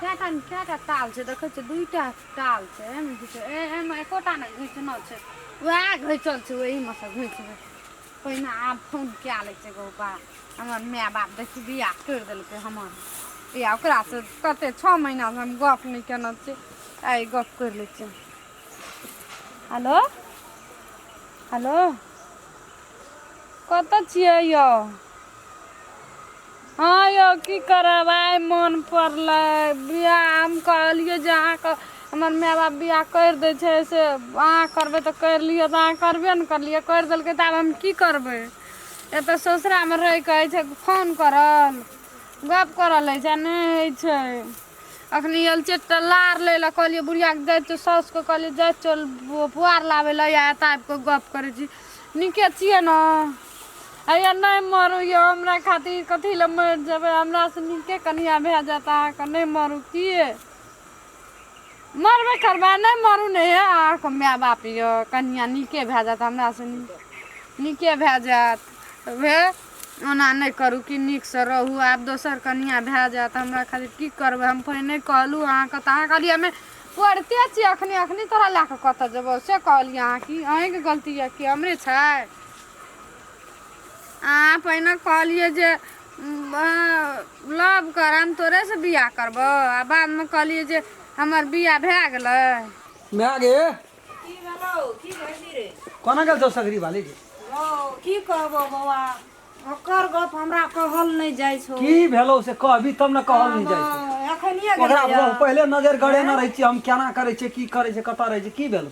कएटा कएटा ताल छै देखै छियै दुइटा ताल छै एहिमे घिचल एहिमे एकोटा ने घिचना छै उएह घिचल छै ओहीमे सँ घिचबै पहिने आब फोन कए लै छै गौ बा हमर माय बाप देखी बियाह करि देलकै हमर या ओकरासँ कते छओ महीनासँ हम गप नहि केने छियै आइ गप करि लै छियै हेलो हेलो कतऽ छियै यौ हँ यौ की करब आइ मोन पड़ले बियाह हम कहलियै जे अहाँके हमर माय बाप बियाह करि दै छै से अहाँ करबै तऽ करि लिअ तऽ अहाँ करबे ने करलियै करि देलकै तऽ आब हम की करबै एतऽ ससुरामे रहै के अछि छै फोन करल गप करल होइ छै नहि होइ छै अखनी आयल छियै तऽ लार लय लए कहलियै बुढ़िया के जाय छियौ साउस के कहलियै जाय छियौ पुआर लाबै लए या एतऽ आबि कऽ गप करै छी नीके छियै ने हैया नै मरू यौ हमरा खातिर कथी लए मरि जेबै हमरा सँ नीके कनिया भए जायत अहाँ के नै मरू की यै मरबे करबै नै मरू ने हे अहाँ के माय बाप यऽ कनिया नीके भए जायत हमरा सँ नीके भए जायत हे ओना नै करू की नीक सँ रहू आब दोसर कनिया भए जायत हमरा खातिर की करबै हम पहिने कहलहुँ अहाँ के तऽ अहाँ कहलियै हमे पढ़िते छियै अखनी अखनी तोरा लए कऽ कतऽ जेबौ से कहलियै अहाँ की अहीं के गलती यऽ की हमरे छै अहाँ पहिने कहलियै जे लव कर हम तोरे से बियाह करबो आ बाद मे कहलियै जे हमर बियाह भए गेलै माय गे की भेलौ की भेलही रे कोना गेल छौ सगरी बाली गे हौ की कहबो बौआ ओकर गप हमरा कहल नहि जाइ छौ की भेलौ से कहबी तब ने कहल नहि जाइ छै एखनिए ओकरा गेलैए। पहिले नजर गड़ेने रहै छियै हम केना करै छियै की करै छै कतऽ रहै छै की भेलौ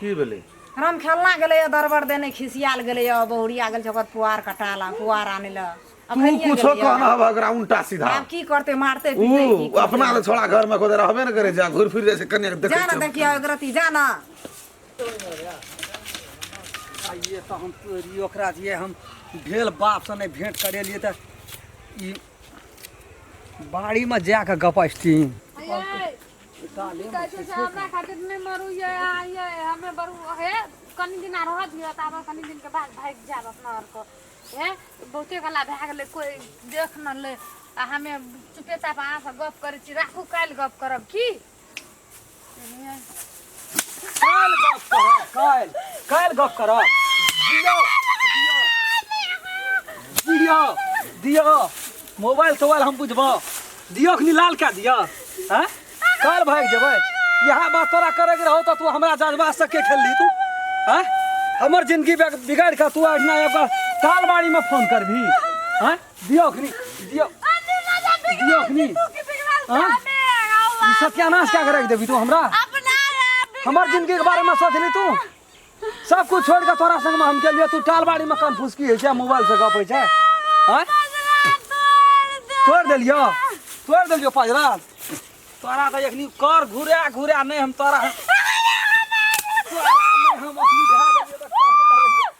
की भेलै राम खेलना गेलैए दरबर देने खिसियाल गेलैए बहुरिया गेल छै ओकर पुआर कटाल आ पुआर आनै लए तू अखनिये कुछो गेलैए। कहना हवा ओकरा उल्टा सीधा आब की करतै मारतै ऊ पीटतै की करतै? अपना तऽ छोड़ा घर में कोदे रहबे ने करे जा घुर फिर जाय छै कन्या के जा ने देखे देखिए अगरती जा ने आइए तऽ हम तोरी ओकरा जे हम भेल बापसँ नहि भेँट करेलियै तऽ ई बाड़ीमे जा कऽ गपस्ती की कहै छै से हमरा खातिर नहि मरू यै अहाँ यै हमे बरू हे कनि दिना रहऽ दिअ तऽ आब कनि दिनके बाद भागि जायब अपना आरके हे बहुते गला भए गेलै कोइ देख न ले आ हमे चुपे चाप अहाँसँ गप करै छी राखू काल्हि गप करब की बुझलियै? काल्हि गप करब काल्हि काल्हि गप करब दियौ दियौ दियौ दियौ मोबाइल तोबाइल हम बुझबौ दियौ अखनी लाल कए दियौ आँय काल्हि भागि जेबै इएह बात तोरा करैके रहौ तऽ तू हमरा जज्बासँ के खेलली तू आँय हमर जिनगी बिगाड़ि कऽ तू अहिना एगो तालबाड़ीमे फोन करबही आँय दियो अखनी दियो अन्नी राजा बिगड़ दियो अखनी तू की बिगड़ल हाँ? सामे ई सत्यानाश क्या करे देबी तू हमरा अपना रे हमर जिंदगी के बारे में सोच ली तू सब कुछ छोड़ के तोरा संग में हम के लिए तू टालबाड़ी में कान फुसकी है छै मोबाइल से गप है छै हाँ? तोड़ देलियो तोड़ देलियो पजरा तोरा तो एखनी कर घुरा घुरा नहीं हम तोरा तोरा नहीं हम अखनी ढा देलियो।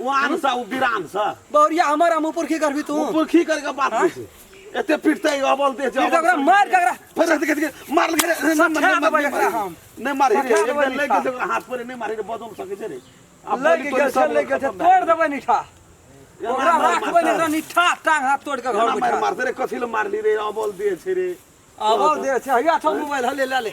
ओ आन सा ओ बिरान सा बौरिया हमर हम ऊपर की करबी तू ऊपर की करके बात हाँ? कर एते पिटते अबल दे जा ओकरा मार के ओकरा फिर रहते के मार लगे नहीं हम नहीं मार एक दिन लेके से हाथ पर नहीं मारे बदल सके छे रे लग गया छे लग गया तोड़ देबे निठा ओकरा राखबे ने निठा टांग हाथ तोड़ के घर मार मार रे कथि ले मारली रे अबल दे छे रे अबल दे छे हया थो मोबाइल हले ले ले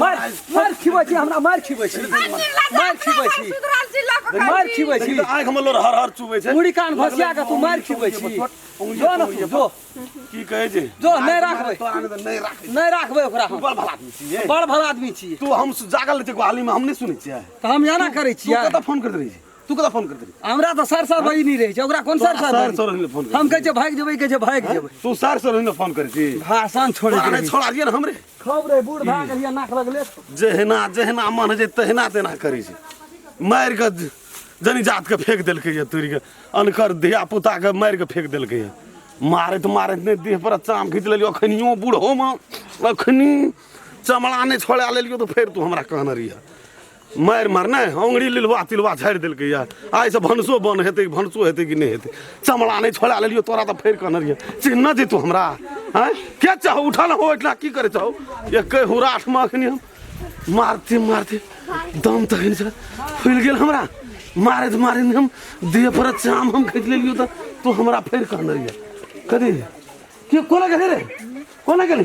मार मार खिबै छी हमरा मार खिबै छी मार खिबै छी मार खिबै छी आँखि मे लोर हर हर चुबै छै मुड़ी कान भसिया के तू मार खिबै छी जो न तू जो की कहै छै जो नहि राखबै तोरा नहि तऽ नहि राखै नहि राखबै ओकरा हम बड़ भला आदमी छियै बड़ भला आदमी छी तू हम जागल रहै छै गुहाली मे हम नहि सुनै छियै तऽ हम एना करै तू छियै कतऽ फोन करैत रहै छी तू कदा फोन कर दे हमरा तो सर सर बजी नहीं रहे छै ओकरा कोन सर सर सर सर ने फोन हम कहे छै भाग जेबै कहे छै भाग जेबै तू सर सर ने फोन कर छी भाषण छोड़ अरे छोड़ा दिए ना हमरे खब रे बूढ़ भाग गलिया नाक लगले जहना जहना मन जे तहना तेना करै छै मार के जनी जात के फेंक देलकै ये तोरी के अनकर धिया पुता के मार के फेंक देलकै ये मारत मारत ने देह पर चाम खींच लेलियो अखनियो बूढ़ो में अखनी चमड़ा ने छोड़ा लेलियो तो फिर तू हमरा कहना रही है मारि मार नहि अङ्गुरी लिलवा तिलवा झाड़ि देलकै यऽ आइसँ भनसो बन हेतै भनसो हेतै कि नहि हेतै चमड़ा नहि छोड़ा लेलियो तोरा तऽ फेर कहने रहियै चिन्ह जैतौ हमरा आँय के चाहो उठल हो ओहिठिना की करै चाहो एकै हुराठमे एखन हम मारते मारते दम तखन से फुलि गेल हमरा मारैत मारैत हम देह पर चाम हम खींच लेलियो तऽ तू हमरा फेर कहने रहियै कथी के कोना गेलै रे कोना गेलै